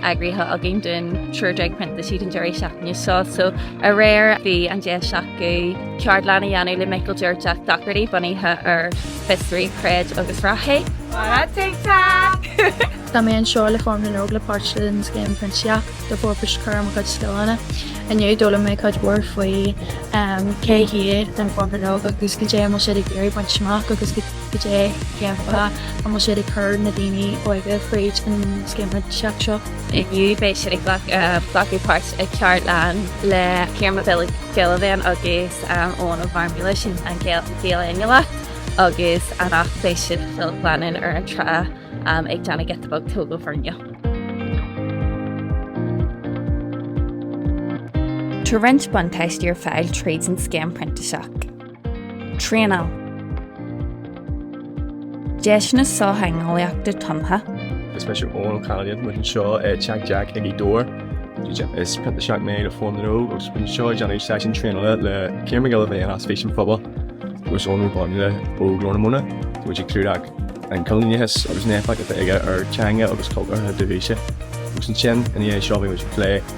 eagraithe againn don triúr déag printísigh an deireadh seachtaine seo so aréir bhí an deis acu ceardlann a dhéanamh le Michael Deirteach Docherty bunaithe ar fiosraigh, creid agus rathaigh. Mara TikTok! Tá mé anseo le Fóram na nÓg mar pháirt den Scéim Printíseach le barr feabhais a chur ar mo chuid scileanna. Inniu d'fhoghlaim mé cuid mhór faoi cé hiad Fóram na nÓg agus goidé a bhfuil siad ag iarraidh baint amach agus go Goidé an fáth a bhfuil siad ag cur na daoine óga fríd an scéim printíseach seo? Inniu beidh siad ag glacadh páirt i ceardlann le Ciarán Mac Giolla Bhéin agus Eoghan Ó Garmaile, sin an Gael Ainleach, agus anocht beidh siad chun glanadh ar an trá ag déanamh giota beag tógáil foirne. Tá roinnt buntáistí ar fáil tríd an scéim printíseach. Traenáil. Deiseanna sochtheangeolaíochta tumtha. Is mise Eoin Canavan, muid anseo ag Teach Jack i nGaoth Dobhair. Is printíseach mé le Fóram na nÓg agus muid anseo ag déanamh seisiún traenála le Ciarán Mac Giolla Bhéin as Fís an Phobail agus Eoghan Ó Garmaile ó Glór na Móna. Muid ag clúdach an coilíneachas agus an éifeacht atá aige ar theanga agus cultúr na dúthaíse. Agus ansin, ina dhiaidh seo, beidh muid ag plé